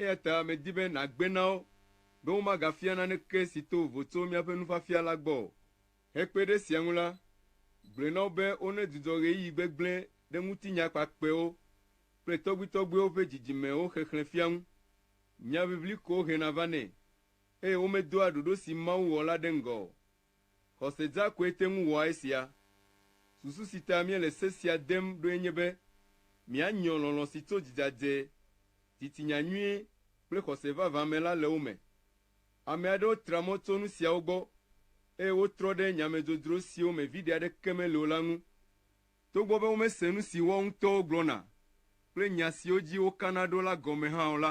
Eya ta medi be nàgbe na wo be womagafia naneke si to vovo tso míaƒe nufiafia la gbɔ o. Hekpe ɖe esia ŋu la, gblɔe na wo be wonedzudzɔ ɣeyiɣi gbegblẽ ɖe ŋutinya kpakpɛwo kple tɔgbuitɔgbuiwo ƒe dzidzimewo xexlẽfia ŋu. Nya ʋiʋli ko hena va nɛ, eye womedoa ɖoɖo si Mawu wɔ la ɖe ŋgɔ o. Xɔse dza koe te ŋu wɔa esia. Susu si ta míele se sia dem ɖoe nye be míanyɔ lɔlɔ̃ si tso dzidzadze, titinya nyui, kple xɔse vavã me la le wo me. Ame aɖewo tra mɔ tso nu siawo gbɔ eye wotrɔ ɖe nyamedzodzro siwo me viɖe aɖeke mele o la ŋu. Togbɔ be womese nu si woawo ŋutɔwo gblɔna kple nya siwo dzi wokana ɖo la gɔme hã o la,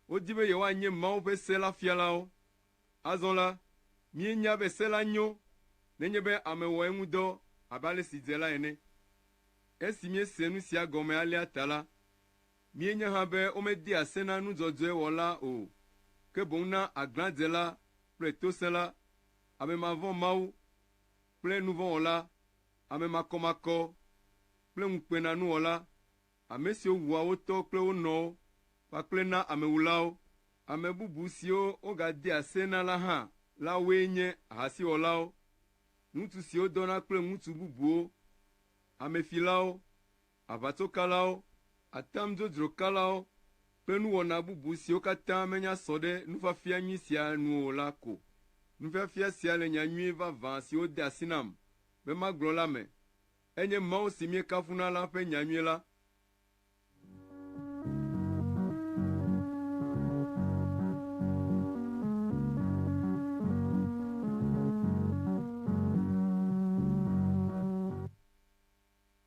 wodi be yewoanye Mawu ƒe se la fialawo. Azɔ la, míenya be se la nyo nenye be ame wɔ eŋu dɔ abe ale si dze la ene. Esi míese nu sia gɔme alea ta la, míenya hã be womedea se na nu dzɔdzɔe wɔla o, ke boŋ na aglãdzela kple tosẽla, ame mavɔ̃ Mawu kple nuvɔ̃wɔla, ame makɔmakɔ kple ŋukpenanuwɔla, ame siwo wua wo tɔ kple wo nɔwo, kpakple na amewulawo. Ame bubu siwo wogadea se na la hã la woe nye ahasiwɔlawo, ŋutsu siwo dɔna kple ŋutsu bubuwo, amefilawo, aʋatsokalawo, atam dzodzro kalawo kple nuwɔna bubu siwo katã menya sɔ ɖe nufiafia nyui sia nu o la ko. Nufiafia sia le nya nyui vavã siwo de asi nam be magblɔ la me. Enye Mawu si míekafuna la ƒe nyanyui la.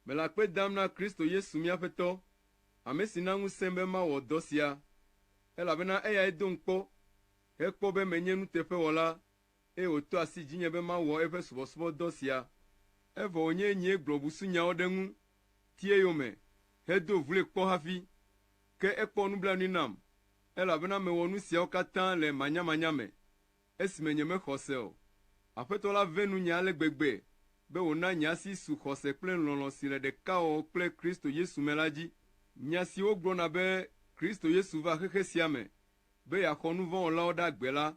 Mele akpe dam na Kristo Yesu mía Aƒetɔ, ame si na ŋusẽ be mawɔ dɔ sia, elabena eyae dom kpɔ hekpɔ be menye nuteƒewɔla eye wòto asi dzinye be mawɔ eƒe subɔsubɔdɔ sia. Evɔ wònye nyee gblɔ busunyawo ɖe eŋu ti eyome hedo vloe kpɔ hafi. Ke ekpɔ nublanui nam, elabena mewɔ nu siawo katã le manyamanya me, esime nyemexɔ se o. Aƒetɔ la ve nunye ale gbegbe be wòna nye asi su xɔse kple lɔlɔ̃ si le ɖekawɔwɔ kple Kristo Yesu me la dzi. Nya si wogblɔna be Kristo Yesu va xexe sia me be yeaxɔ nuvɔ̃wɔlawo ɖe agbe la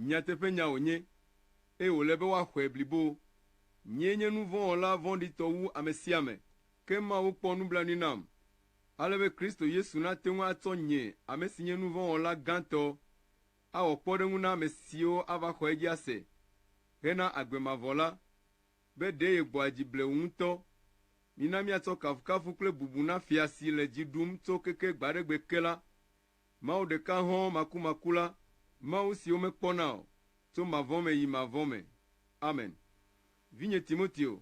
Nyateƒenya wònye, eye wòle be woaxɔe blibo. Nyee nye nu vɔ̃ wɔla vɔ̃ɖitɔ wu ame sia ame, ke Mawu kpɔ nublanui nam, ale be Kristo Yesu nate ŋu atsɔ nye, ame si nye nu vɔ̃ wɔla gãtɔ, awɔ kpɔɖeŋu na ame siwo ava xɔ edzi ase hena agbe mavɔ la, be ɖe yegbɔa dzi blewu ŋutɔ. Mina míatsɔ kafukafu kple bubu na Fia si le dzi ɖum tso keke gbaɖegbe ke la. Mawu ɖeka hɔ̃ makumaku la, Mawu si womekpɔna o, tso mavɔ me yi mavɔ me. Amen. Vinye Timoteo,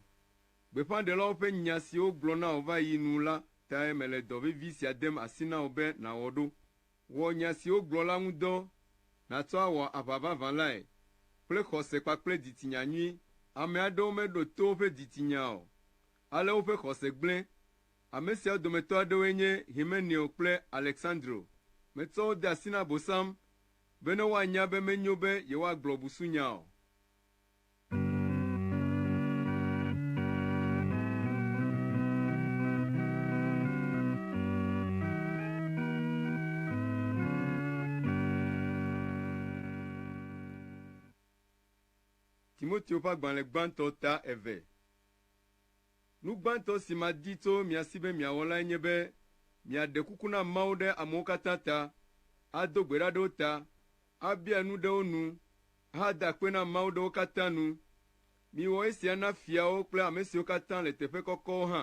gbeƒãɖelawo ƒe nya si wogblɔ na wò va yi nu la tae mele dɔ vevi sia dem asi na wò be nàwɔ ɖo. Wɔ nya si wogblɔ la ŋu dɔ, nàtsɔ awɔ aʋa vavã lae, kple xɔse kpakple dzitsinya nyui. Ame aɖewo meɖo to woƒe dzitsinya o, ale woƒe xɔse gblẽ. Ame siawo dometɔ aɖewoe nye Himeneo kple Aleksandro. Metsɔ wo de asi na Abosam bene woanya be menyo be yewoagblɔ busunya o. Timoteo ƒe agbalẽ gbãtɔ ta eve. Nu gbãtɔ si madi tso mia si be miawɔ lae nye be miaɖe kuku na Mawu ɖe amewo katã ta, ado gbe ɖa ɖe wo ta, abia nu ɖe wo nu, ahada akpe na Mawu ɖe wo katã nu. Miwɔ esia na fiawo kple ame siwo katã le teƒe kɔkɔwo hã,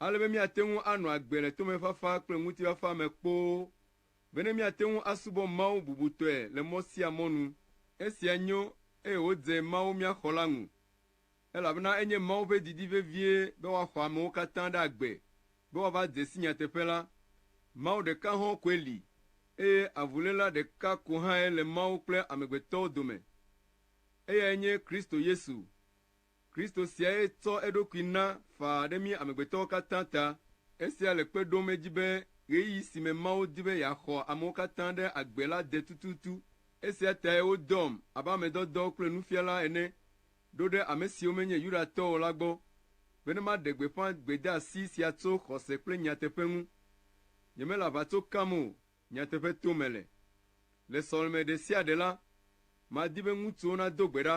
ale be míate ŋu anɔ agbe le tomefafa kple ŋutifafa me kpoo, bene míate ŋu asubɔ Mawu bubutɔe le mɔ sia mɔ nu. Esia nyo, eye wòdze Mawu mía Xɔla ŋu, elabena enye Mawu ƒe didi vevie be woaxɔ amewo katã ɖe agbe be woava de si nyateƒe la. Mawu ɖeka hɔ̃ koe li, eye avuléla ɖeka ko hãe le Mawu kple amegbetɔwo dome. Eyae nye Kristo Yesu. Kristo siae tsɔ eɖokui na faa ɖe mí amegbetɔwo katã ta. Esia le kpe ɖom edzi be ɣeyiɣi si me Mawu di be yeaxɔ amewo katã ɖe agbe la de tututu. Esia tae wodɔm abe ame dɔdɔ kple nufiala ene ɖo ɖe ame siwo menye Yudatɔ o la gbɔ bene maɖe gbeƒã gbedeasi sia tso xɔse kple nyateƒe ŋu. Nyemele aʋatso kam o, nyateƒe tom mele. Le sɔleme ɖe sia ɖe la, madi be ŋutsuwo nado gbe ɖa.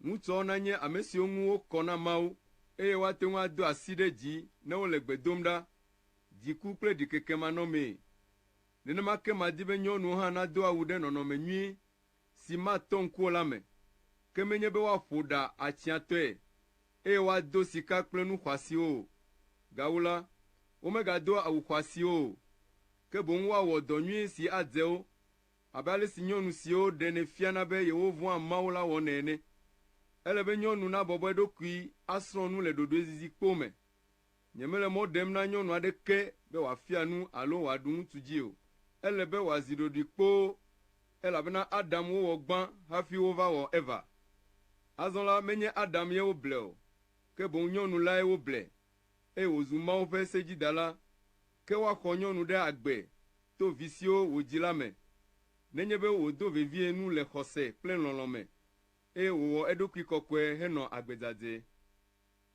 Ŋutsuawo nanye ame siwo ŋu wokɔ na Mawu eye woate ŋu ado asi ɖe dzi ne wole gbe dom ɖa, dziku kple ɖikekemanɔmee. Nenema ke madi be nyɔnuwo hã nado awu ɖe nɔnɔme nyui si matɔ ŋku o la me, ke menye be woaƒo ɖa atsiatɔe, eye woado sika kple nu xɔasiwo o. Gawu la, womegadoa awu xɔasiwo o, ke boŋ woawɔ dɔ nyui si adze wo, abe ale si nyɔnu siwo ɖenɛ fiana be yewovɔ̃a Mawu la wɔnɛ ene. Ele be nyɔnu nabɔbɔ eɖokui asrɔ̃ nu le ɖoɖoezizi kpoo me. Nyemele mɔ ɖem na nyɔnu aɖeke be wòafia nu alo wòaɖu ŋutsu dzi o. Ele be wòazi ɖoɖoe kpoo, elabena Adam wowɔ gbã hafi wova wɔ Eva. Azɔ la, menye Adam ye woble o, ke boŋ nyɔnu lae woble, eye wòzu Mawu ƒe sedzidala. Ke woaxɔ nyɔnu ɖe agbe to vi siwo wòdzi la me, nenye be wòdo vevie nu le xɔse kple lɔlɔ̃ me, eye wòwɔ eɖokui kɔkɔe henɔ agbe dzadzɛ.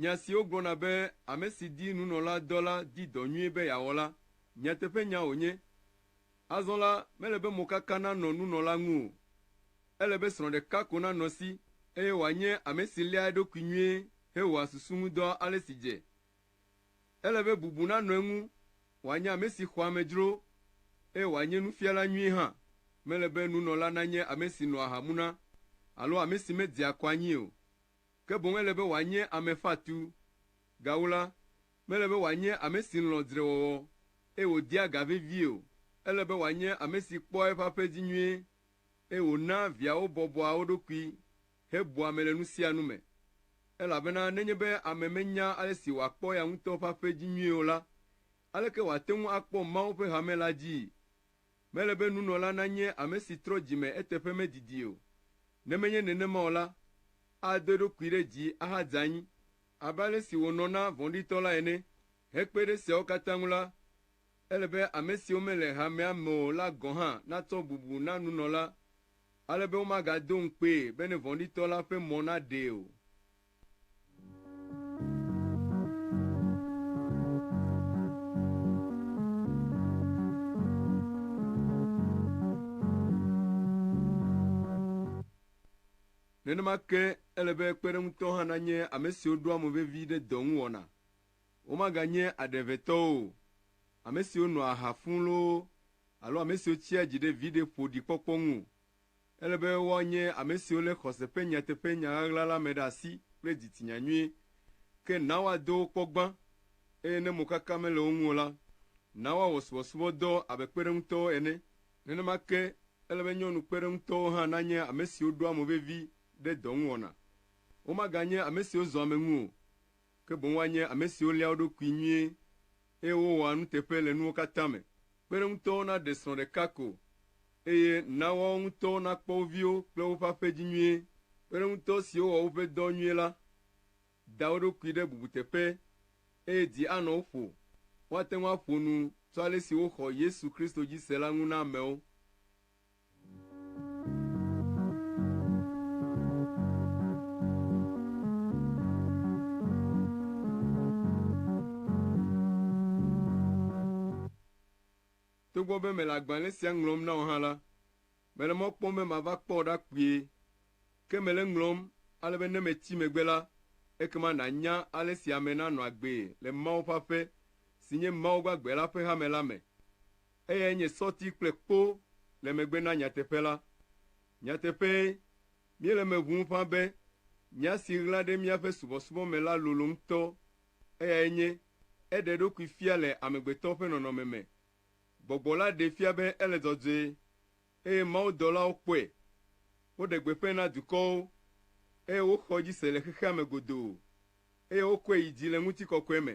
Nya siwo gblɔna be ame si di nunɔladɔ la di dɔ nyui be yeawɔ la, nyateƒenya wònye. Azɔ la, mele be mokaka nanɔ nunɔla ŋu o. Ele be srɔ̃ ɖeka ko nanɔ esi, eye wòanye ame si léa eɖokui nyuie hewɔa susu ŋu dɔ ale si dze. Ele be bubu nanɔ eŋu, wòanye ame si xɔa amedzro, eye wòanye nufiala nyui hã. Mele be nunɔla nanye ame si nɔa ha muna alo ame si medzea kɔ anyi o. ke boŋ ele be wòanye ame fatu. Gawu la, mele be wòanye ame si lɔ̃ dzrewɔwɔ, eye wòdea ga vevie o. Ele be wòanye ame si kpɔa eƒe aƒe dzi nyuie, eye wònaa viawo bɔbɔa wo ɖokui hebua ame le nu sia nu me. Elabena nenye be ame menya ale si wòakpɔ eya ŋutɔ ƒe aƒe dzi nyuie o la, aleke wòate ŋu akpɔ Mawu ƒe hame la dzii? Mele be nunɔla nanye ame si trɔ dzi me eteƒe medidi o. Ne menye nenema o la, ado eɖokui ɖe dzi ahadze anyi, abe ale si wònɔ na vɔ̃ɖitɔ la ene. Hekpe ɖe esiawo katã ŋu la, ele be ame siwo mele hamea me o la gɔ̃ hã natsɔ bubu na nunɔla ale be womagado ŋukpee bene vɔ̃ɖitɔ la ƒe mɔ naɖee o. Nenema ke ele be kpeɖeŋutɔ hã nanye ame siwo ɖoa mo vevi ɖe dɔ ŋu wɔna. Womaganye aɖe ʋɛ tɔwo o, ame siwo nɔa aha fũu loo alo ame siwo tsia dzi ɖe viɖe ƒoɖi kpɔkpɔ ŋu o. Ele be woanye ame siwo lé xɔse ƒe nyateƒe nya ɣaɣla la me ɖe asi kple dzitsinya nyuie. Ke na woado wo kpɔ gbã, eye ne mokaka mele wo ŋu o la, na woawɔ subɔsubɔdɔ abe kpeɖeŋutɔwo ene. Nenema ke, ele be nyɔnu kpeɖeŋutɔwo hã nanye ame siwo ɖoa mo vevi ɖe dɔŋuwɔna. Womaganye ame siwo zɔa ame ŋu o. ke boŋ woanye ame siwo léa wo ɖokui nyuie, eye wowɔa nuteƒe le nuwo katã me. Kpeɖeŋutɔwo naɖe srɔ̃ ɖeka ko, eye na woawo ŋutɔwo nakpɔ wo viwo kple woƒe aƒe dzi nyuie. Kpeɖeŋutɔ siwo wɔ woƒe dɔ nyuie la da wo ɖokui ɖe bubuteƒe, eye dzi anɔ wo ƒo. Woate ŋu aƒo nu tso ale si woxɔ Yesu Kristo dzi se la ŋu na amewo. Togbɔ be mele agbalẽ sia ŋlɔm na wò hã la, mele mɔ kpɔm be mava kpɔ wò ɖa kpuie. Ke mele eŋlɔm ale be ne metsi megbe la, ekema nànya ale si ame nanɔ agbee le Mawu ƒe aƒe, si nye Mawu gbagbe la ƒe hame la me. Eyae nye sɔti kple kpo le megbe na nyateƒe la. Nyateƒee, míele eme ʋũu ƒã be nya si ɣla ɖe míaƒe subɔsubɔ me la lolo ŋutɔ, eyae nye, Eɖe eɖokui fia le amegbetɔ ƒe nɔnɔme me. Gbɔgbɔ la ɖee fia be ele dzɔdzɔe, eye mawudɔlawo kpɔe. Woɖe gbeƒãe na dukɔwo, eye woxɔ edzi se le xexea me godoo, eye wokɔe yi dzi le ŋutikɔkɔe me.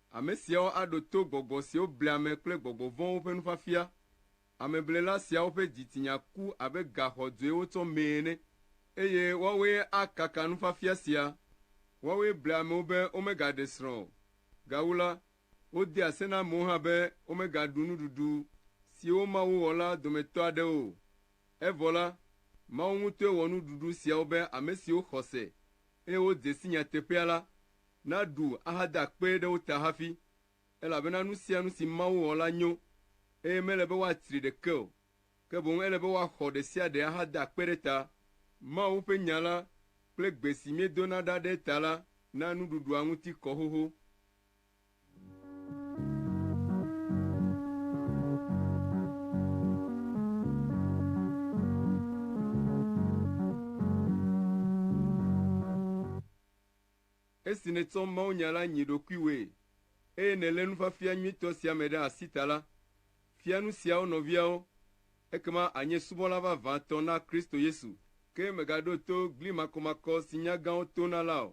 Ame siawo aɖo to gbɔgbɔ siwo blea ame kple gbɔgbɔ vɔ̃wo ƒe nufiafia. Ameblela siawo ƒe dzitsinya ku abe ga xɔdzɔe wotsɔ mee ene, eye woawoe akaka nufiafia sia. Woawoe blea amewo be womegaɖe srɔ̃ o. Gawu la, wodea se na amewo hã be womegaɖu nuɖuɖu siwo Mawu wɔ la dometɔ aɖewo o. Evɔ la, Mawu ŋutɔe wɔ nuɖuɖu siawo be ame siwo xɔ se, eye wodze si nyateƒea la, Naɖu ahada akpe ɖe wo ta hafi, elabena nu sia nu si Mawu wɔ la nyo, eye mele be woatsri ɖeke o, ke boŋ ele be woaxɔ ɖe sia ɖe ahada akpe ɖe ta. Mawu ƒe Nya la kple gbe si míedona ɖa ɖe eta la na nuɖuɖua ŋuti kɔ xoxo. Esi nètsɔ mawunya la nyi ɖokuiwòe, eye nèlé nufiafia nyuitɔ sia me ɖe asi ta la, fia nu siawo nɔviawo, ekema ànye subɔla vavãtɔ na Kristo Yesu. Ke mègaɖo to gli makɔmakɔ si nya gãwo tona la o.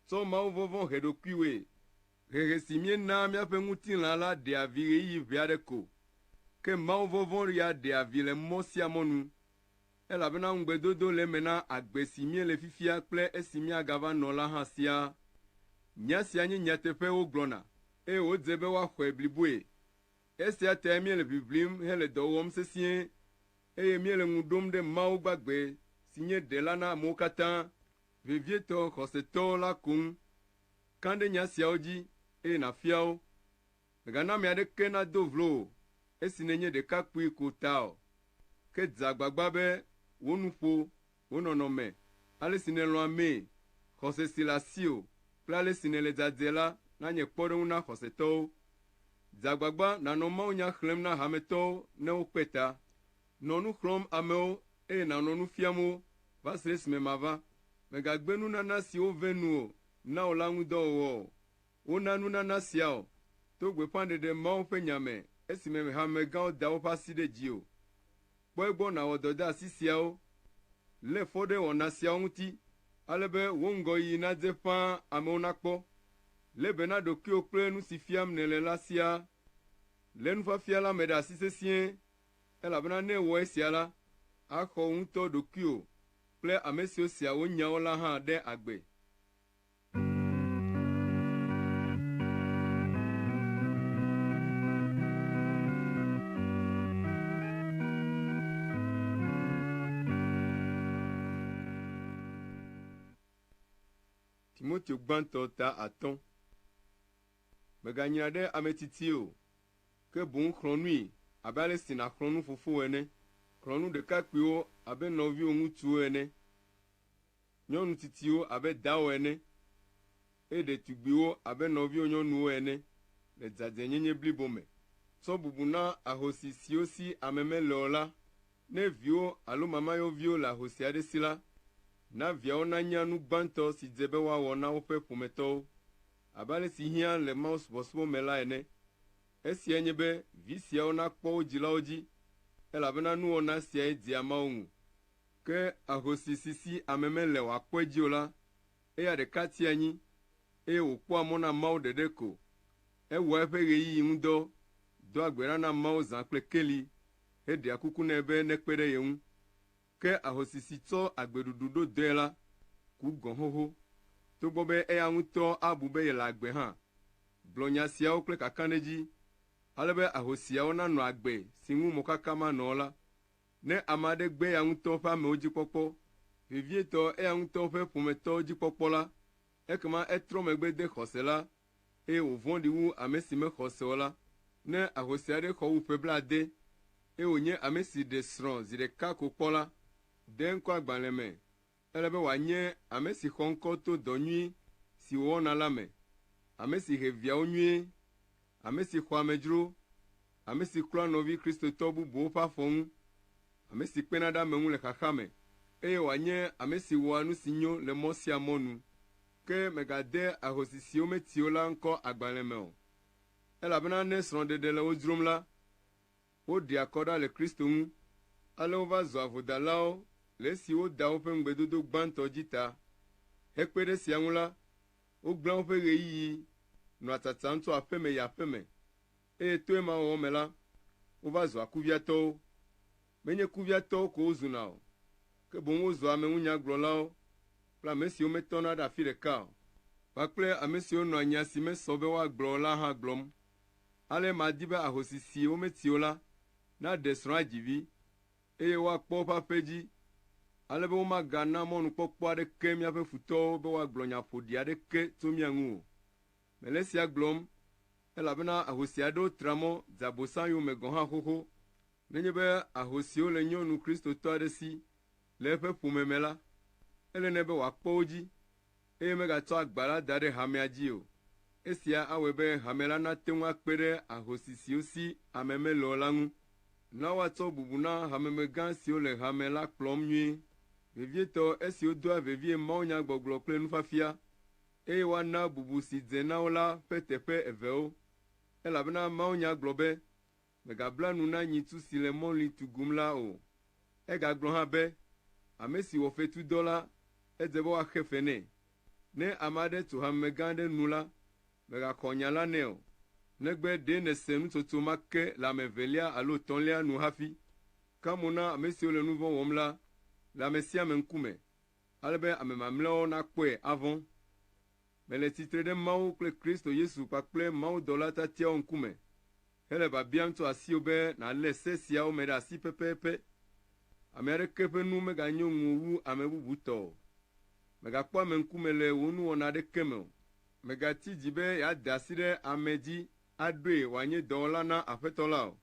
Tsɔ mawuvɔvɔ̃ he ɖokuiwòe. Hehe si míenaa míaƒe ŋutilã la ɖea vi ɣeyiɣi ʋɛ aɖe ko, ke mawuvɔvɔ̃ ya ɖea vi le mɔ sia mɔ nu. Elabena ŋugbedodo le eme na agbe si míele fifia kple esi míagava nɔ la hã siaa. Nya sia nye nyateƒe wogblɔna, eye wodze be woaxɔe bliboe. Esia tae míele ʋiʋlim hele dɔ wɔm sesĩe, eye míele ŋu ɖom ɖe Mawu gbagbe si nye Ɖela na amewo katã, vevietɔ xɔsetɔ la ko ŋu. Kã ɖe nya siawo dzi, eye nàfia wo. Mègana ame aɖeke nado vlo wò esi nènye ɖekakpui ko ta o, ke dze agbagba be wò nuƒo, wò nɔnɔme, ale si nèlɔ̃ amee, xɔse si le asiwò, kple ale si nèle dzadzɛ la nanye kpɔɖeŋu na xɔsetɔwo. Dze agbagba nànɔ mawunya xlẽm na hametɔwo ne wokpe ta. Nɔ nu xlɔ̃m amewo, eye nànɔ nu fiam wo va se ɖe esime mava. Mègagbe nunana si wovẽ nu o na wò la ŋu dɔ wɔwɔ o, Wona nunana sia o to gbeƒãɖeɖe Mawu ƒe nya me esime hamegãwo da woƒe asi ɖe dzi o. Kpɔ egbɔ nàwɔ dɔdeasi siawo. Lé fɔ ɖe wɔna siawo ŋuti ale be wò ŋgɔyiyi nadze ƒãa amewo nakpɔ. Lé be na ɖokuiwò kple nu si fiam nèle la siaa. Lé nufiafia la me ɖe asi sesĩe, elabena ne èwɔ esia la, axɔ wò ŋutɔ ɖokuiwò kple ame siwo sea wò nyawo la hã ɖe agbe. Timoteo gbãtɔ ta atɔ̃. Mèganyra ɖe ame tsitsie o, ke boŋ xlɔ̃ nui abe ale si nàxlɔ̃ nu fofowò ene. Xlɔ̃ nu ɖekakpuiwo abe nɔviwò ŋutsuwo ene. nyɔnu tsitsiwo abe dawò ene, eye ɖetugbiwo abe nɔviwò nyɔnuwo ene le dzadzɛnyenye blibo me. Tsɔ bubu na ahosi siwo si ame mele o la. Ne viwò alo mamayɔviwo le ahosi aɖe si la, na viawo nanya nu gbãtɔ si dze be woawɔ na woƒe ƒometɔwo. Abe ale si hiã le mawusubɔsubɔ me la ene, esiae nye be vi siawo nakpɔ wo dzilawo dzi, elabena nuwɔna siae dzea Mawu ŋu. Ke ahosi si si ame mele wòakpɔ edzi o la, eya ɖeka tia anyi, eye wòkpɔa mɔ na Mawu ɖeɖe ko. Ewɔa eƒe ɣeyiɣi ŋu dɔ, doa gbe ɖa na Mawu zã kple keli, heɖea kuku nɛ be nekpe ɖe ye ŋu. Ke ahosi si tsɔ agbeɖuɖu ɖo dɔe la, ku gɔ̃ xoxo, togbɔ be eya ŋutɔ abu be yele agbe hã. Gblɔ nya siawo kple kakãɖedzi, ale be ahosiawo nanɔ agbe si ŋu mɔkaka manɔ o la. Ne ame aɖe gbe eya ŋutɔ ƒe amewo dzi kpɔkpɔ, vevietɔ eya ŋutɔ ƒe ƒometɔwo dzi kpɔkpɔ la, ekema etrɔ megbe de xɔse la, eye wòvɔ̃ɖi wu ame si mexɔ se o la. Ne ahosi aɖe xɔ wu ƒe blaade, eye wònye ame si ɖe srɔ̃ zi ɖeka ko kpɔ la, ɖe ŋkɔ agbalẽ me, Ele be wòanye ame si xɔ ŋkɔ to dɔ nyui si wòwɔna la me, ame si he viawo nyuie, ame si xɔa amedzro, ame si klɔa nɔvi Kristotɔ bubuwo ƒe afɔ ŋu, ame si kpena ɖe ame ŋu le xaxa me, eye wòanye ame si wɔa nu si nyo le mɔ sia mɔ nu. Ke megade ahosi siwo meti o la ŋkɔ agbalẽ me o, elabena ne srɔ̃ɖeɖe le wo dzrom la, woɖea kɔ ɖa le Kristo ŋu, ale wova zua vodalawo le esi woda woƒe ŋugbedodo gbãtɔ dzi ta. Hekpe ɖe esia ŋu la, wogblẽa woƒe ɣeyiɣi nɔa tsatsam tso aƒeme yi aƒeme, eye to ema wɔwɔ me la, wova zua kuviatɔwo. Menye kuviatɔwo ko wozuna o, ke boŋ wozua ameŋunyagblɔlawo kple ame siwo metɔna ɖe afi ɖeka o, kpakple ame siwo nɔa nya si mesɔ be woagblɔ o la hã gblɔm. Ale madi be ahosi si wometi o la naɖe srɔ̃a dzi vi, eye woakpɔ woƒe aƒe dzi, ale be womagana mɔnukpɔkpɔ aɖeke míaƒe futɔwo be woagblɔ nya ƒoɖi aɖeke tso mía ŋu o. Mele sia gblɔm, elabena ahosi aɖewo tra mɔ dze Abosam yome gɔ̃ hã xoxo. Nenye be ahosiwo le nyɔnu Kristotɔ aɖe si le eƒe ƒome me la, ele nɛ be wòakpɔ wo dzi. eye megatsɔ agba la da ɖe hamea dzi o. Esia awɔe be hame la nate ŋu akpe ɖe ahosi siwo si ame mele o la ŋu. Na woatsɔ bubu na hamemegã siwo le hame la kplɔm nyuie, vevietɔ esi wodoa vevie mawunyagbɔgblɔ kple nufiafia, eye woana bubu si dze na wo la ƒe teƒe evewo, elabena mawunya gblɔ be, Mègabla nu na nyitsu si le mɔlui tugum la o. Egagblɔ hã be, Ame si wɔ fetu dɔ la, edze be woaxe fe nɛ. Ne ame aɖe tso hamemegã aɖe nu la, mègaxɔ nya la nɛ o, negbe ɖe nèse nutsotso ma ke le ame evelia alo etɔ̃lia nu hafi. Ka mo na ame siwo le nu vɔ̃ wɔm la le ame sia ame ŋkume, ale be ame mamlɛawo nakpɔe avɔ̃. Mele tsitre ɖe Mawu kple Kristo Yesu kpakple mawudɔla tiatiawo ŋkume hele biabiam tso asiwò be nàlé se siawo me ɖe asi pɛpɛpɛ. Ame aɖeke ƒe nu meganyo ŋuwò wu ame bubu tɔ o. Mègakpɔ ame ŋkume le wò nuwɔna aɖeke me o. Mègati dzi be yeade asi ɖe ame dzi aɖoe wòanye dɔwɔla na Aƒetɔ la o.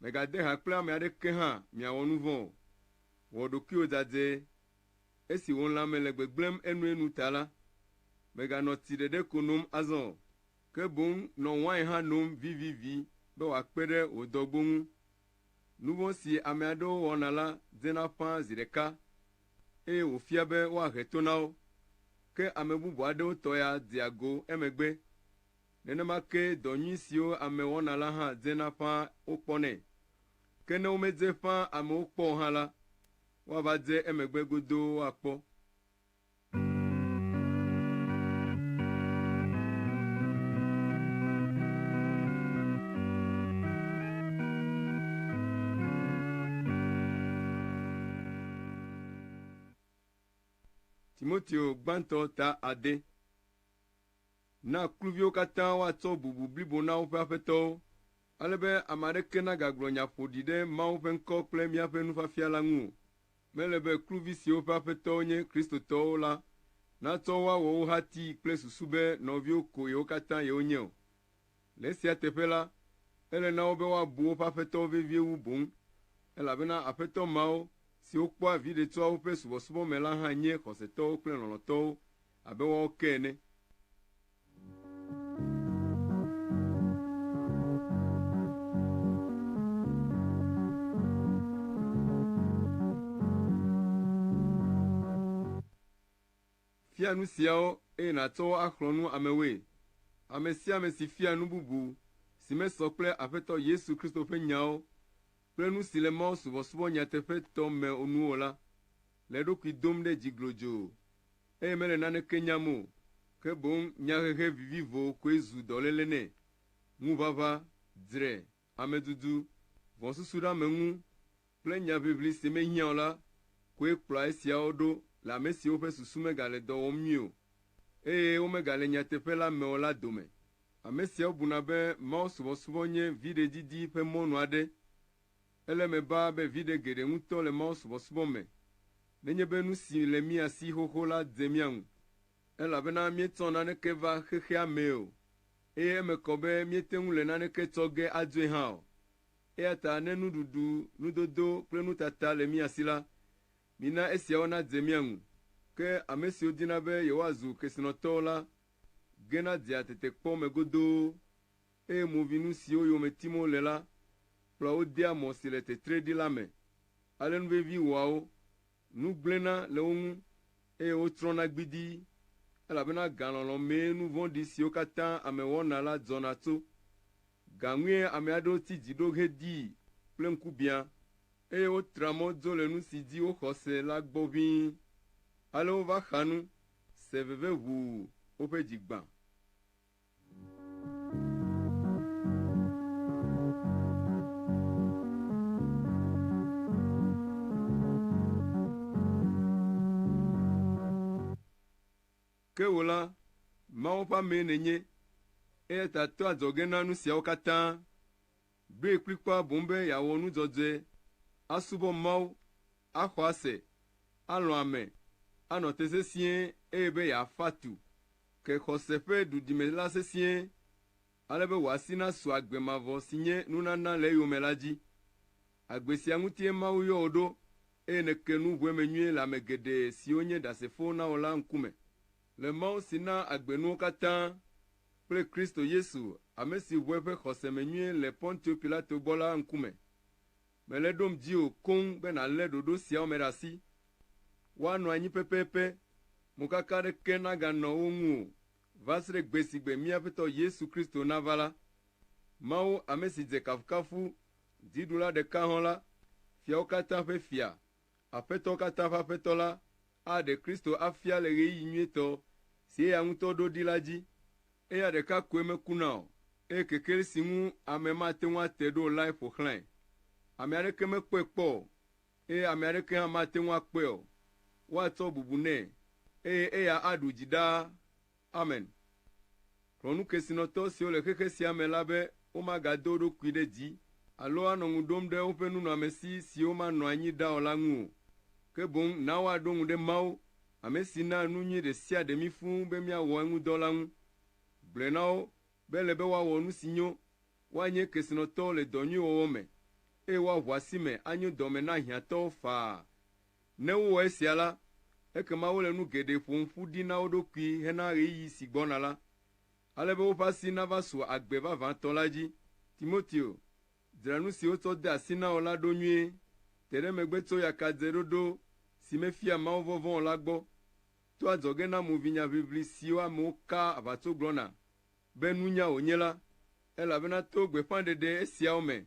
Mègade ha kple ame aɖeke hã miawɔ nu vɔ̃ o. Wɔ ɖokuiwò dadzɛ. Esi wò lãme le gbegblẽm enuenu ta la, mèganɔ tsi ɖeɖe ko nom azɔ o, ke boŋ nɔ wain hã nom vivivi be wòakpe ɖe wò dɔgbo ŋu. Nu vɔ̃ si ame aɖewo wɔna la dzena ƒã zi ɖeka, eye wòfia be woahe to na wo, ke ame bubu aɖewo tɔ ya dea go emegbe. Nenema kee dɔ nyui siwo ame wɔna la hã dzena ƒãa wokpɔnɛ. Ke ne womedze ƒãa amewo kpɔ o hã la, woava dze emegbe godoo akpɔ. Timoteo gbãtɔ ta ade. Na kluviwo katã woatsɔ bubu blibo na woƒe aƒetɔwo, ale be ame aɖeke nagagblɔ nya ƒoɖi ɖe Mawu ƒe ŋkɔ kple míaƒe nufiafia la ŋu o. Mele be kluvi siwo ƒe aƒetɔwo nye Kristotɔwo la natsɔ wo awɔ wo hati kple susu be nɔviwo koe wo katã yewonye o. Le esia teƒe la, ele na wo be woabu woƒe aƒetɔwo vevie wu boŋ, elabena aƒetɔ mawo, siwo kpɔa viɖe tsoa woƒe subɔsubɔ me la hã nye xɔsetɔwo kple lɔlɔ̃tɔwo abe woawo ke ene. Fia nu siawo eye nàtsɔ wo axlɔ̃ nu amewoe. Ame sia ame si fia nu bubu si mesɔ kple Aƒetɔ Yesu Kristo ƒe nyawo kple nu si le Mawu subɔsubɔ nyateƒetɔ me nu o la, le eɖokui dom ɖe dzi glodzoo. eye mele naneke nyam o, ke boŋ nyahehe vivivo koe zu dɔléle nɛ. Ŋuʋaʋã, dzre, amedudu, vɔ̃susuɖeameŋu, kple nyaʋiʋli si mehiã o la koe kplɔa esiawo ɖo le ame siwo ƒe susu megale dɔ wɔm nyuie o, eye womegale nyateƒe la me o la dome. Ame siawo buna be mawusubɔsubɔ nye viɖe didi ƒe mɔnu aɖe. Ele eme baa be viɖe geɖe ŋutɔ le mawusubɔsubɔ me nenye be nu si le mía si xoxo la de mía ŋu, elabena míetsɔ naneke va xexea mee o, eye eme kɔ be míete ŋu le naneke tsɔ ge adoe hã o. Eya ta ne nuɖuɖu, nudodo kple nutata le mía si la, mina esiawo nadze mía ŋu. Ke ame siwo dina be yewoazu kesinɔtɔwo la gena dea tetekpɔ me godoo. eye movinu siwo yome tim wole la kplɔa wo dea mɔ si le tetree ɖi la me. Ale nu vevi wɔa wo, nu gblẽna le wo ŋu, eye wotrɔna gbidii, elabena galɔlɔ̃ mee nu vɔ̃ɖi siwo katã ame wɔna la dzɔna tso. Ga ŋue ame aɖewo ti dzi ɖo hedii kple ŋkubiã, eye wotra mɔ dzo le nu si dzi woxɔ se la gbɔ ʋĩi. Ale wova xa nu, se veve ʋuu, woƒe dzi gbã. Ke wò la, Mawu ƒe amee nènye, eya ta to adzɔge na nu siawo katã. Ɖoe kplikpaa boŋ be yeawɔ nu dzɔdzɔe, asubɔ Mawu, axɔ ase, alɔ̃ ame, anɔ te sesĩe eye be yeafa tu ke xɔse ƒe ɖuɖime la sesĩe ale be wòasi nasu agbe mavɔ si nye nunana le eyome la dzi. Agbe sia ŋutie Mawu yɔ wò ɖo eye nèke nu ʋueme nyuie le ame geɖe siwo nye Ɖasefowo na wò la ŋkume. Le Mawu si naa agbe nuwo katã kple Kristo Yesu, ame si ʋu eƒe xɔse me nyuie le Pontio Pilato gbɔ la ŋkume. Mele ɖom dziwò koŋ be nàlé ɖoɖo siawo me ɖe asi, Woanɔ anyi pɛpɛpɛ, mokaka aɖeke naganɔ wo ŋu o, va se ɖe gbe si gbe mía Aƒetɔ Yesu Kristo nava la. Mawu, ame si dze kafukafu, dziɖula ɖeka hɔ̃ la, fiawo katã ƒe Fia, Aƒetɔ katã ƒe Aƒetɔ la aɖe Kristo afia le ɣeyiɣi nyuitɔ si eya ŋutɔ ɖo ɖi la dzi. Eya ɖeka koe mekuna o, eye kekeli si ŋu ame mate ŋu ate ɖo o lae ƒo xlãe. Ame aɖeke mekpɔe kpɔ o, eye ame aɖeke hã mate ŋu akpɔe o. Woatsɔ bubu nɛ, eye eya aɖu dzi ɖaa Amen. Kplɔ nukesinɔtɔ siwo le xexe sia me la be womagado wo ɖokui ɖe dzi alo anɔ ŋu ɖom ɖe woƒe nunɔamesi siwo manɔ anyi ɖa o la ŋu o, ke boŋ na woaɖo ŋu ɖe Mawu, ame si naa nu nyui ɖe sia ɖe mí fũu be míawɔ eŋu dɔ la ŋu. Gblɔe na wo be ele be woawɔ nu si nyo, woanye kesinɔtɔwo le dɔ nyui wɔwɔ me, eye woaʋu asi me anyo dɔ me na hiãtɔwo faa Ne wowɔ esia la, ekema wole nu geɖe ƒom ƒu ɖi na wo ɖokui hena ɣeyiɣi si gbɔna la, ale be woƒe asi nava su agbe vavãtɔ la dzi. Timoteo, dzra nu si wotsɔ de asi na wò la ɖo nyuie. Te ɖe megbe tso yakadzeɖoɖo si mefia mawuvɔvɔ̃ o la gbɔ. To adzɔge na movinya ʋiʋli siwo amewo kaa aʋatso gblɔna be nunya wònye la, elabena to gbeƒãɖeɖe esiawo me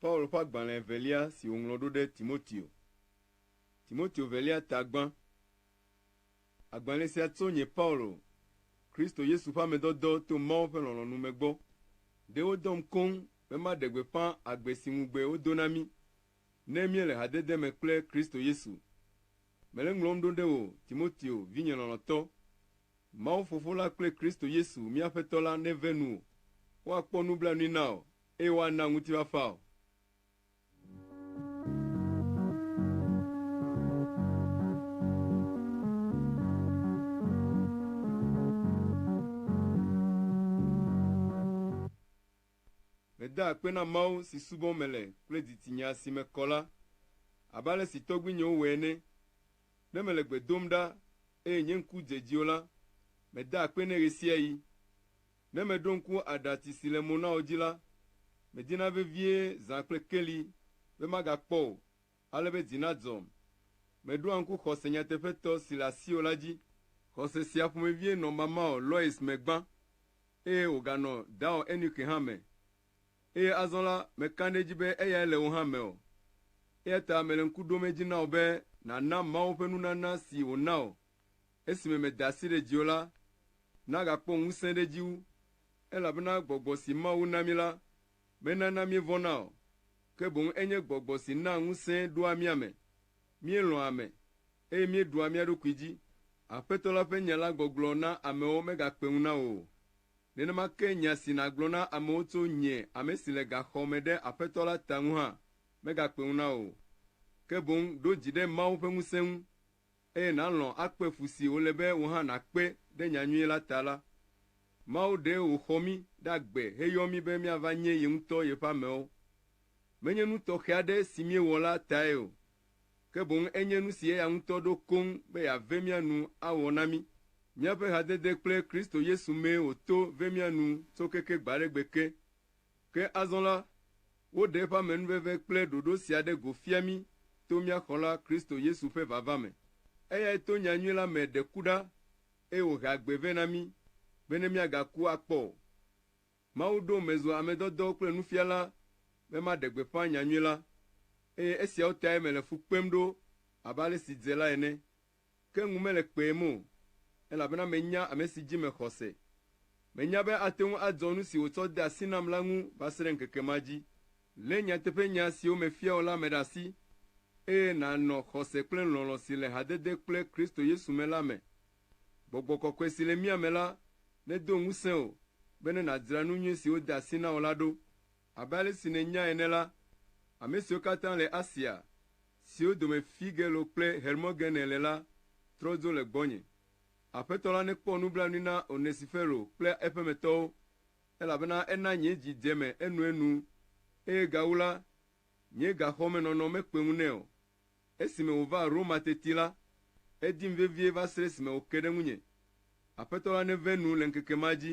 Paul ƒe agbalẽ evelia si wòŋlɔ ɖo ɖe Timoteo. Timoteo velia ta gbã. Agbalẽ sia tso nye Paulo, Kristo Yesu ƒe ame dɔdɔ to Mawu ƒe lɔlɔ̃nu me gbɔ. Ɖe wodɔm koŋ be maɖe gbeƒã agbe si ŋugbe wodo na mí ne míele hadede me kple Kristo Yesu. Mele ŋlɔm ɖo ɖe wò, Timoteo, vinye lɔlɔ̃tɔ. Mawu Fofo la kple Kristo Yesu mía Aƒetɔ la neve nuwò, woakpɔ nublanui na wò, eye woana ŋutifafa wò. Medaa akpe na Mawu si subɔm mele kple didi nye asi me kɔ la, abe ale si tɔgbuinyewo wɔe ene. Ne mele gbe dom ɖa eye nye ŋku dze edzi o la, medaa akpe nɛ ɣesiaɣi. Ne meɖo ŋku aɖatsi si le mo na wò dzi la, medina vevie zã kple keli be magakpɔ o. ale be dzi nadzɔm. Meɖoa ŋku xɔse nyateƒetɔ si le asiwò la dzi. Xɔse sia ƒomevie nɔ mamawò Lois me gbã, eye wòganɔ dawò Eunike hã me, eye azɔ la, meka ɖe edzi be eyae le wò hã me o. Eya ta mele ŋku ɖom edzi na wò be nàna Mawu ƒe nunana si wòna wò esime meda asi ɖe dziwò la nagakpɔ ŋusẽ ɖe edzi wu, elabena gbɔgbɔ si Mawu na mí la menana míevɔ̃na o, ke boŋ enye gbɔgbɔ si naa ŋusẽ ɖoa mía me. Míelɔ̃a ame, eye míeɖua mía ɖokui dzi. Aƒetɔ la ƒe nya la gbɔgblɔ na amewo megakpe ŋu na wò o. Nenema ke nya si nàgblɔ na amewo tso nye, ame si le gaxɔ me ɖe Aƒetɔ la ta ŋu hã megakpe ŋu na wò o, ke boŋ ɖo dzi ɖe Mawu ƒe ŋusẽ ŋu. eye nàlɔ̃ akpe fu si wòle be wò hã nàkpe ɖe nya nyui la ta la, Mawu ɖee wòxɔ mí ɖe agbe heyɔ mí be míava nye ye ŋutɔ yeƒe amewo. Menye nu tɔxɛ aɖe si míewɔ la tae o, ke boŋ enye nu si eya ŋutɔ ɖo koŋ be yeave mía nu awɔ na mí. Míaƒe hadede kple Kristo Yesu mee wòto ve mía nu tso keke gbaɖegbe ke. Ke azɔ la, woɖe eƒe amenuveve kple ɖoɖo sia ɖe go fia mí to mía Xɔla Kristo Yesu ƒe vava me. Eyae to nya nyui la me ɖe ku ɖa, eye wòhe agbe vɛ na mí, bene míagaku akpɔ o. Mawu ɖom mezu amedɔdɔ kple nufiala be maɖe gbeƒã nya nyui la, eye esiawo tae mele fu kpem ɖo abe ale si dze la ene. ke ŋu mele kpem o, elabena menya ame si dzi mexɔ se. Menya be ate ŋu adzɔ nu si wòtsɔ de asi nam la ŋu va se ɖe ŋkeke ma dzi. Lé nyateƒenya siwo mefia wò la me ɖe asi, eye nànɔ xɔse kple lɔlɔ̃ si le hadede kple Kristo Yesu me la me. Gbɔgbɔ kɔkɔe si le mía me la nedo ŋusẽ wò bene nàdzra nu nyui si wode asi na wò la ɖo. Abe ale si nènyae ene la, ame siwo katã le Asia, siwo dome Figelo kple Hermogene le la, trɔ dzo le gbɔnye. Aƒetɔ la nekpɔ nublanui na Onesifero kple eƒemetɔwo, elabena ena nye dzi dze eme enuenu, eye gawu la, nye gaxɔmenɔnɔ mekpe ŋu nɛ o. Esime wòva Roma teti la, edim vevie va se ɖe esime wòke ɖe ŋunye. Aƒetɔ la neve nu le ŋkeke ma dzi.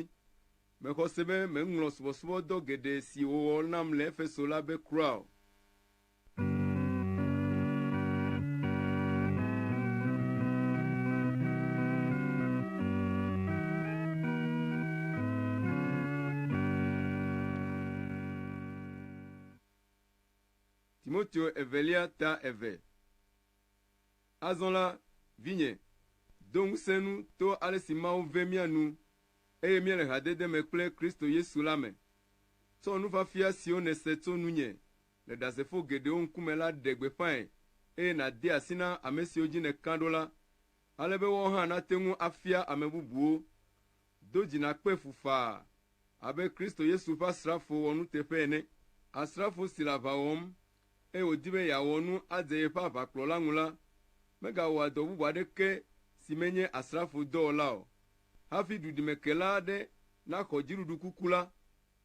Mexɔ se be meŋlɔ subɔsubɔdɔ geɖe si wòwɔ nam le Efeso la be kura o. Timoteo evelia ta eve. Azɔ la, vinye, do ŋusẽ nu to ale si Mawu ve mía nu, eye míele hadede me kple Kristo Yesu la me. Tsɔ nufiafia siwo nèse tso nunye le Ɖasefo geɖewo ŋkume la ɖe gbeƒãe, eye nàde asi na ame siwo dzi nèka ɖo la, ale be woawo hã nate ŋu afia ame bubuwo. do dzi nakpe fu faa abe Kristo Yesu ƒe asrafo wɔnuteƒe ene, asrafo si le aʋa wɔm, eye wòdi be yeawɔ nu adze yeƒe aʋakplɔla ŋu la, megawɔa dɔ bubu aɖeke si menye asrafo dɔ o la o. Hafi duɖimekela aɖe naxɔ dziɖuɖu kuku la,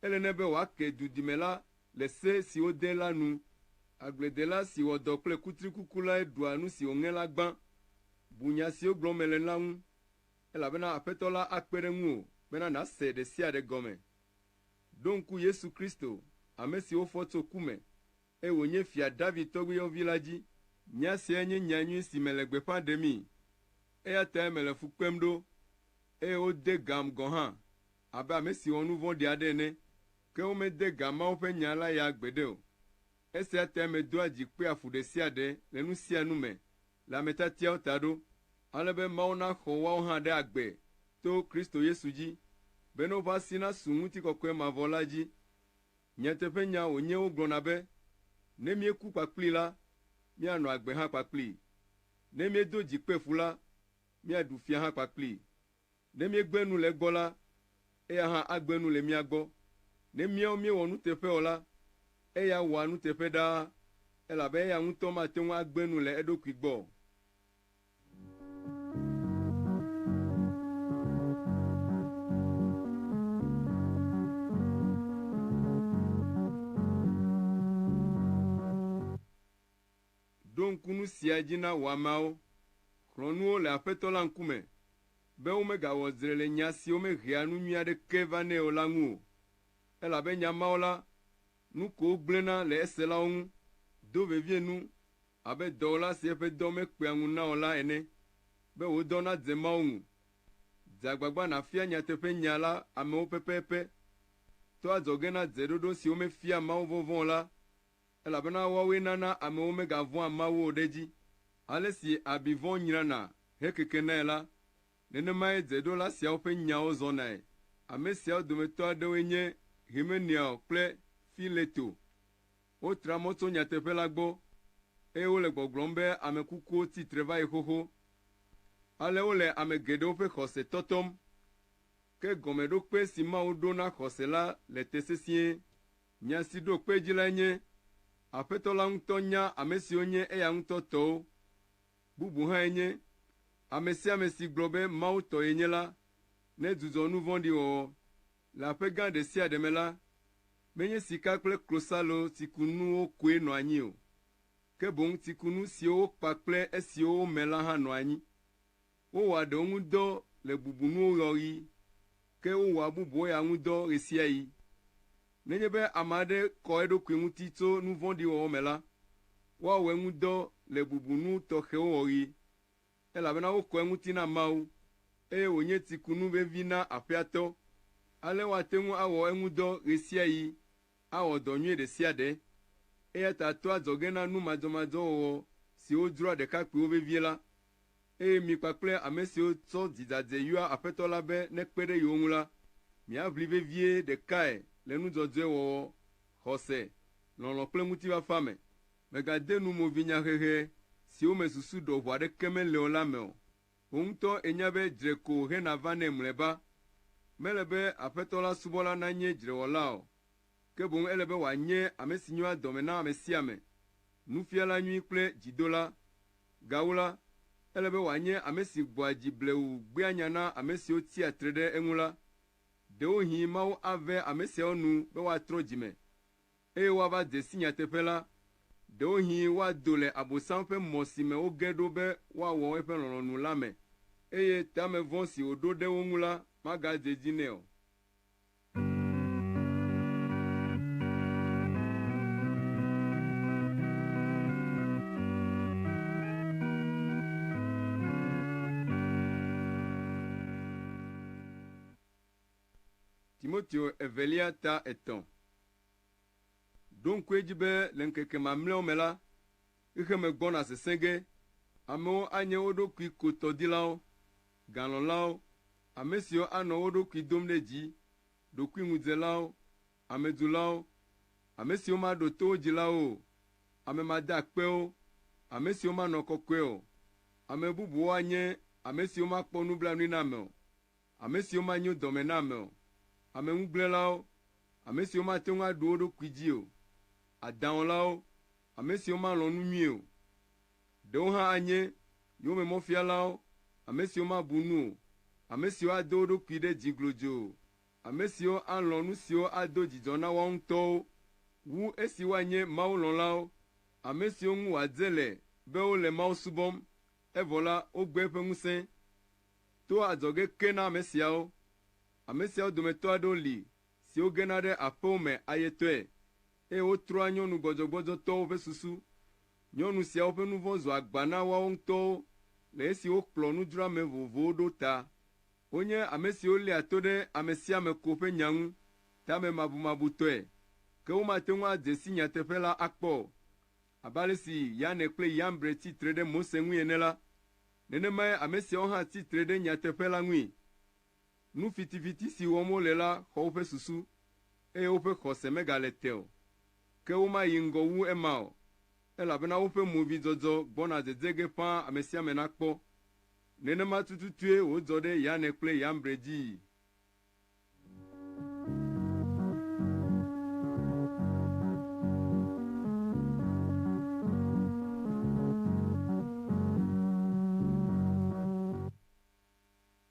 ele nɛ be wòake dudime la le se si wode la nu. Agbledela si wɔ dɔ kple kutrikuku lae ɖua nu si wòŋe la gbã. Bu nya siwo gblɔm mele la ŋu. elabena Aƒetɔ la akpe ɖe ŋuwò bena nàse ɖe sia ɖe gɔme. Ɖo ŋku Yesu Kristo, ame si wofɔ tso ku me, eye wònye Fia David tɔgbuiyɔvi la dzi. Nya siae nye nya nyui si mele gbeƒã ɖemii, eya tae mele fu kpem ɖo, eye wode gam gɔ̃ hã abe ame si wɔ nu vɔ̃ɖi aɖe ene, ke womede ga Mawu ƒe Nya la ya gbeɖe o. Esia tae medoa dzi kpea fu ɖe sia ɖe le nu sia nu me le ametiatiawo ta ɖo, ale be Mawu naxɔ woawo hã ɖe agbe to Kristo Yesu dzi, bene woƒe asi nasu ŋutikɔkɔe mavɔ la dzi. Nyateƒenya wònye wogblɔna be, Ne míeku kpakplii la, míanɔ agbe hã kpakplii. Ne míedo dzi kpe ƒu la, míaɖu fia hã kpakplii. Ne míegbe nu le egbɔ la, eya hã agbe nu le mía gbɔ. Ne míawo míewɔ nuteƒe o la, eya wɔa nuteƒe ɖaa, elabe eya ŋutɔ mate ŋu agbe nu le eɖokui gbɔ o. Ɖo ŋku nu sia dzi na wò ameawo. Xlɔ̃ nu wo le Aƒetɔ la ŋkume, be womegawɔ dzre le nya siwo mehea nu nyui aɖeke vanɛ o la ŋu o. Elabe nya mawo la, nu ko wogblẽna le eselawo ŋu, do vevie nu abe dɔwɔla si eƒe dɔ mekpea ŋu na o la ene, be wò dɔ nadze Mawu ŋu. Dze agbagba nàfia nyateƒenya la amewo pɛpɛpɛ. Tɔ adzɔge na dzeɖoɖo siwo mefia mawuvɔvɔ̃ o la. elabena woawoe nana amewo megavɔ̃a Mawu o ɖe edzi. Ale si abi vɔ̃ nyrana hekekenae la, nenemae dzeɖola siawo ƒe nyawo zɔnae. Ame siawo dometɔ aɖewoe nye Hymenaeɔ kple Fileto. Wotra mɔ tso nyateƒe la gbɔ, eye wole gbɔgblɔm be ame kukuwo tsi tre va yi xoxo. Ale wole ame geɖewo ƒe xɔse tɔtɔm. Ke gɔmeɖokpe si Mawu ɖo na xɔse la le te sesĩe. Nya si ɖo kpe edzi lae nye, Aƒetɔ la ŋutɔ nya ame siwo nye eya ŋutɔ tɔwo. Bubu hãe nye, Ame sia ame si gblɔ be Mawu tɔ yenye la, nedzudzɔ nu vɔ̃ɖi wɔwɔ. Le aƒe gã ɖe sia ɖe me la, menye sika kple klosalo tsikunuwo koe nɔa anyi o, ke boŋ tsikunu siwo wokpa kple esiwo wome la hã nɔa anyi. Wowɔa ɖewo ŋu dɔ le bubunuwo ɣeaɣi, ke wowɔa bubuwo ya ŋu dɔ ɣesiaɣi. Nenye be ame aɖe kɔ eɖokui ŋuti tso nu vɔ̃ɖi wɔwɔ me la, woawɔ eŋu dɔ le bubunu tɔxɛwo ɣeaɣi, elabena wokɔ eŋuti na Mawu, eye wònye tsikunu vevi na aƒea tɔ. Ale woate ŋu awɔ eŋu dɔ ɣesiaɣi, awɔ dɔ nyui ɖesiaɖe. Eyata toa adzɔge na nu madzɔmadzɔ wɔwɔ siwo dzroa ɖekakpuiwo vevie la, eye mi kpakple ame siwo tsɔ dzidade yɔa Aƒetɔ la be nekpe ɖe yewo ŋu la, miaʋli vevie ɖekae le nu dzɔdzɔe wɔwɔ, xɔse, lɔlɔ̃ kple ŋutifafa me. Mègade nu movinyahehe siwo me susu ɖɔʋu aɖeke mele o la me o. Wò ŋutɔ ènya be dzre ko hena vanɛ mlɔeba. Mele be Aƒetɔ la subɔla nanye dzrewɔla o, ke boŋ ele be wòanye ame si nyoa dɔme na ame sia ame, nufiala nyui kple dzidola. Gawu la, ele be wòanye ame si gbɔa dzi blewu gbea nya na ame siwo tsia tre ɖe eŋu la. Ɖewohĩ Mawu ave ame siawo nu be woatrɔ dzi me, eye woava de si nyateƒe la. Ɖewohĩ woado le Abosam ƒe mɔ si me woge ɖo be woawɔ eƒe lɔlɔ̃nu la me, eye teamevɔ si wòɖo ɖe wo ŋu la magade edzi nɛ o. Timoteo Evelia ta etɔ̃. Ɖo ŋku edzi be le ŋkeke mamlɛawo me la, xexeme gbɔna sesẽ ge, amewo anye wo ɖokui ko tɔdilawo, galɔ̃lawo, ame siwo anɔ wo ɖokui dom ɖe dzi, ɖokuiŋudzelawo, amedzulawo, ame siwo maɖo to wo dzilawo o, ame madeakpewo, ame siwo manɔ kɔkɔe o, ame bubuwo anye ame siwo makpɔ nublanui na ame o, ame siwo manyo dɔme na ame o, ame ŋugblẽlawo, ame siwo mate ŋu aɖu wo ɖokui dzi o, adãwɔlawo, ame siwo malɔ̃ nu nyuie o. Ɖewo hã anye yowòmemɔfialawo, ame siwo mabu nu o, ame siwo ado wo ɖokui ɖe dzi glodzoo, ame siwo alɔ̃ nu siwo ado dzidzɔ na woawo ŋutɔwo wu esi woanye mawulɔ̃lawo, ame siwo ŋu wòadze le be wole Mawu subɔm, evɔ la, wogbe eƒe ŋusẽ. To adzɔge ke na ame siawo. Ame siawo dometɔ aɖewo li siwo gena ɖe aƒewo me ayetɔe, eye wotrɔa nyɔnu gbɔdzɔgbɔdzɔtɔwo ƒe susu Nyɔnu siawo ƒe nu vɔ̃ zu agba na woawo ŋutɔwo le esi wokplɔ nudzroame vovovowo ɖo ta. Wonye ame siwo léa to ɖe ame sia ame ko ƒe nya ŋu tamemabumabutɔe, ke womate ŋu adze si nyateƒe la akpɔ o. Abe ale si Yane kple Yambre tsi tre ɖe Mose ŋui ene la, nenemae ame siawo hã tsi tre ɖe nyateƒe la ŋui. Nu fitifiti si wɔm wole la xɔ woƒe susu, eye woƒe xɔse megale te o. Ke womayi ŋgɔ wu ema o, elabena woƒe movidzɔdzɔ gbɔna dede ge ƒãa amesiame nakpɔ. Nenema tututue wòdzɔ ɖe Yane kple Yambre dzii.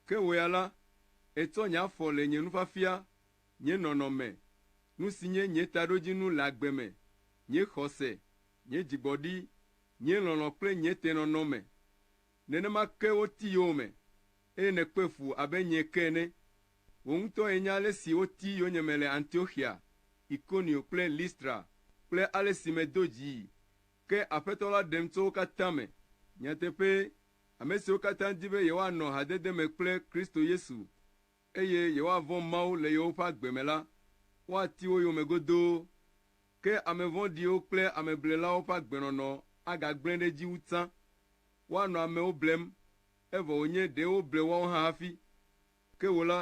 Ke wò ya la, ètsɔ nye afɔ le nye nufiafia nye nɔnɔme, nu si nye nye taɖodzinu le agbe me, nye xɔse, nye dzigbɔɖi, nye lɔlɔ̃ kple nye tenɔnɔ me. Nenema ke woti yowòme, eye nèkpe fu abe nyee ke ene. Wò ŋutɔ ènya ale si woti yonyeme le Antioxia, Ikonio kple Listra kple ale si medo dzii. Ke Aƒetɔ la ɖem tso wo katã me. Nyateƒee, ame siwo katã di be yewoanɔ hadede me kple Kristo Yesu, eye yewoavɔ̃ Mawu le yewoƒe agbe me la, woati wo yome godoo. Ke ame vɔ̃ɖiwo kple ameblelawo ƒe agbenɔnɔ agagblẽ ɖe edzi wu tsã. Woanɔ amewo blem, evɔ wònye ɖe woble woawo hã hafi. Ke wò la,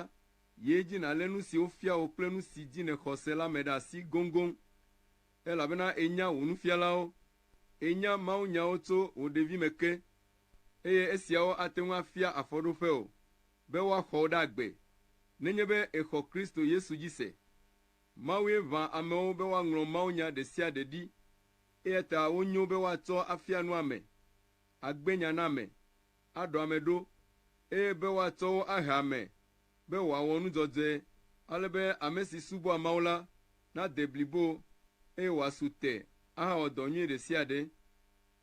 yi edzi nàlé nu si wofia wò kple nu si dzi nèxɔ se la me ɖe asi goŋgoŋ, elabena ènya wò nufialawo. Ènya mawunyawo tso wò ɖevime ke, eye esiawo ate ŋu afia afɔɖoƒewò. be woaxɔ wo ɖe agbe nenye be èxɔ Kristo Yesu dzi se. Mawue ʋã amewo be woaŋlɔ mawunya ɖe sia ɖe ɖi, eya ta wonyo be woatsɔ afia nu ame, agbe nya na ame, aɖɔ ame ɖo, eye be woatsɔ wo ahe ame be wòawɔ nu dzɔdzɔe ale be ame si subɔa Mawu la nade blibo eye wòasu te ahawɔ dɔ nyui ɖe sia ɖe.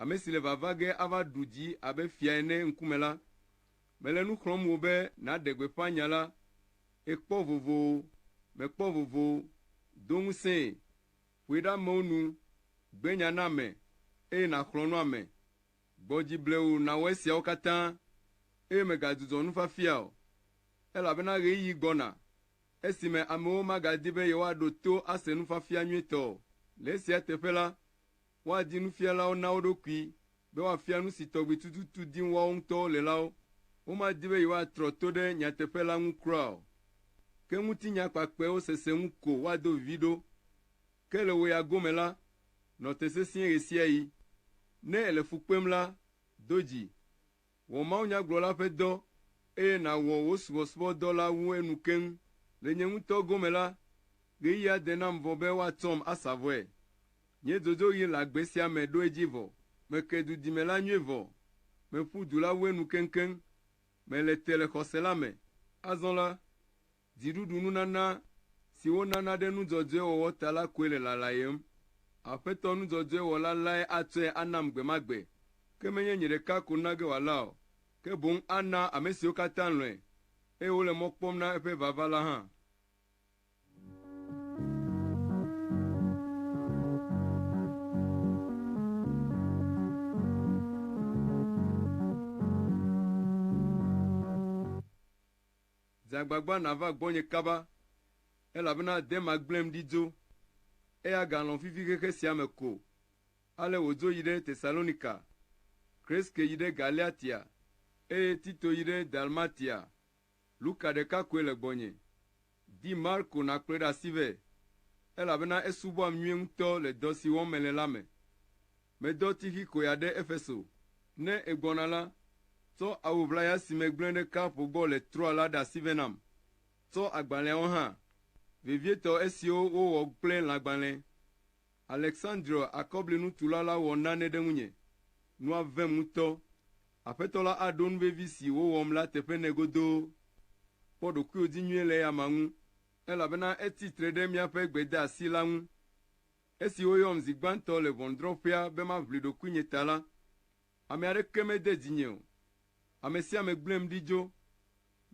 Ame si le vava ge ava ɖu dzi abe fia ene ŋkume la, mele nu xlɔ̃m wò be nàɖe gbeƒã nya la, Èkpɔ vovo o, mèkpɔ vovo o, do ŋusẽe, ƒoe ɖe amewo nu, gbe nya na ame, eye nàxlɔ̃ nu ame. Gbɔ dzi ble wò nàwɔ esiawo katã, eye mègadzudzɔ nufafia o, elabena ɣeyiɣi gbɔna, esime amewo magadi be yewoaɖo to ase nufafia nyuitɔ o. Le esia teƒe la, woadi nufialawo na wo ɖokui be woafia nu si tɔgbi tututu dim woawo ŋutɔwo le la wo. Womadi be yewoatrɔ to ɖe nyateƒe la ŋu kura o. Ke ŋutinya kpakpɛwo sese ŋu ko woado vivi ɖo. Ke le wò ya gome la, nɔ te sesĩe ɣesiaɣi. Ne èle fu kpem la, do dzi. Wɔ mawunyagblɔla ƒe dɔ, eye nàwɔ wò subɔsubɔdɔ la wu enu keŋ. Le nye ŋutɔ gome la, ɣeyiɣia de nam vɔ be woatsɔm asa vɔe. Nye dzodzroɣi le agbe sia me ɖo edzi vɔ. Meke dudime la nyuie vɔ. Meƒu du la wu enu keŋkeŋ. Mele te le xɔse la me. Azɔ la, Dziɖuɖu nunana si wonana ɖe nu dzɔdzɔe wɔwɔ ta la koe le lalayem. Aƒetɔ nu dzɔdzɔe wɔla lae atsɔe anam gbe ma gbe, ke menye nye ɖeka ko na ge wòala o, ke boŋ ana ame siwo katã lɔ̃e, eye wole mɔ kpɔm na eƒe vava la hã. Dze agbagba nàva gbɔnye kaba, elabena de magblẽm ɖi dzo. Eya galɔ̃ fifi xexe sia me ko. Ale wòdzo yi ɖe Tesalonika. Kreske yi ɖe Galatia, eye Tito yi ɖe Dalmatia. Luka ɖeka koe le gbɔnye. Di Marko nàkplɔe ɖe asi vɛ, elabena esubɔam nyuie ŋutɔ le dɔ si wɔm mele la me. Medɔ Tixikoea ɖe Efeso. Ne egbɔna la, tsɔ awu ʋlaya si megblẽ ɖe ka ƒo gbɔ le Troa la ɖe asi vɛ nam. Tsɔ agbalẽawo hã, vevietɔ esiwo wowɔ kple lãgbalẽ. Aleksandrio akɔblinutula la wɔ nane ɖe ŋunye. Nua vem ŋutɔ. Aƒetɔ la aɖo nu vevi si wowɔm la teƒe nɛ godoo. Kpɔ ɖokuiwò dzi nyuie le eya amea ŋu, elabena etsi tre ɖe míaƒe gbedeasi la ŋu. Esi woyɔm zi gbãtɔ le ʋɔnudrɔ̃ƒea be maʋli ɖokuinye ta la, ame aɖeke mede dzinye o. Ame sia ame gblẽm ɖi dzo.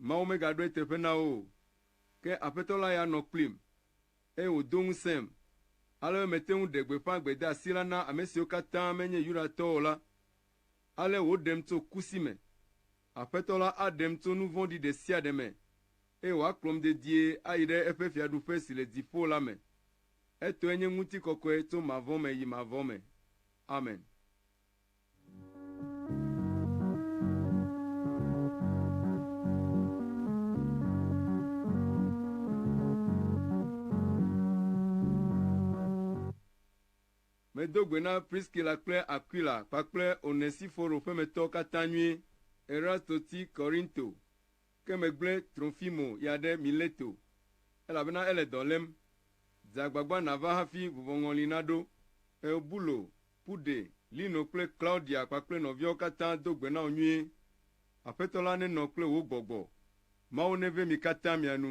Mawu megaɖoe teƒe na wo o. Ke Aƒetɔ la ya nɔ kplim, eye wòdo ŋusẽm, ale be mete ŋu ɖe gbeƒã gbedeasi la na ame siwo katã menye Yudatɔwo o la. Ale wòɖem tso kusi me. Aƒetɔ la aɖem tso nu vɔ̃ɖi ɖe sia ɖe me, eye wòakplɔm dedie ayi ɖe eƒe fiaɖuƒe si le dziƒo la me. Etɔe nye ŋutikɔkɔe tso mavɔ me yi mavɔ me. Amen. Medo gbe na Priskila kple Aquila kpakple Onesiforo ƒemetɔwo katã nyuie. Erasto ti Korinto. Ke megblẽ Trofimo ya ɖe Mileto, elabena ele dɔ lém. Dze agbagba nàva hafi vuvɔŋɔli naɖo. Eubulo, Pude, Lino kple Klaudia kpakple nɔviawo katã do gbe na wò nyuie. Aƒetɔ la nenɔ kple wò gbɔgbɔ. Mawu neve mi katã mia nu.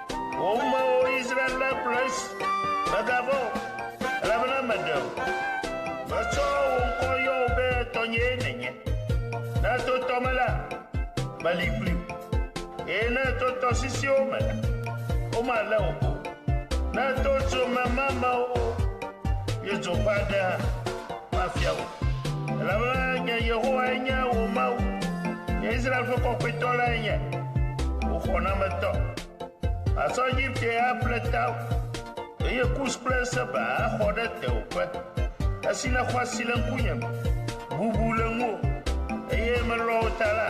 Wò amewo Israel la kplɔe si, mègavɔ̃ o, elabena meɖe wò. Metsɔ wò ŋkɔ yɔ wò be tɔnyee nènye. Ne èto tɔ me la, meli kpli wò, eye ne èto tɔsisiwo me la, womalé wò o. Ne èto dzomemamewo yodzoƒe aɖe hã. Mafia wò, elabena nye Yehowae nye wò Mawu, nye Israel ƒe Kɔkɔetɔ lae nye wò xɔnametɔ. Matsɔ Egipte aƒle tawò, eye Kus kple Seba axɔ ɖe tewòƒe. Esi nèxɔ asi le ŋkunye me, bubu le ŋuwò, eye melɔ̃ wò ta la,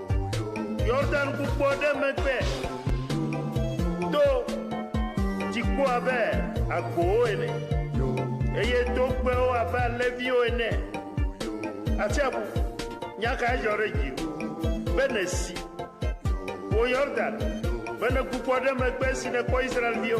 Yordan ƒukpo ɖe megbe to dziku abe agbowo ene, eye togbɛwo abe alẽviwo ene. Atsiaƒu, nya kae dzɔ ɖe dziwò be nèsi, wò Yordan, be nèku kpɔ ɖe megbe esi nèkpɔ Israel-viwo?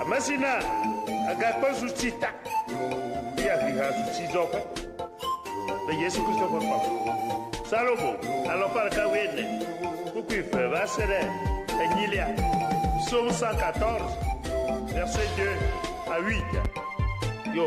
Ame si na agakpe zu tsi ta. Fia vi ha zu tsi dɔ ƒe. Le Yesu Kristo ƒe kpa. Salomo alɔfa ɖeka wu ene. Kuku ife va se ɖe enyilia. Psaume 114, verset 2 à 8. Yo.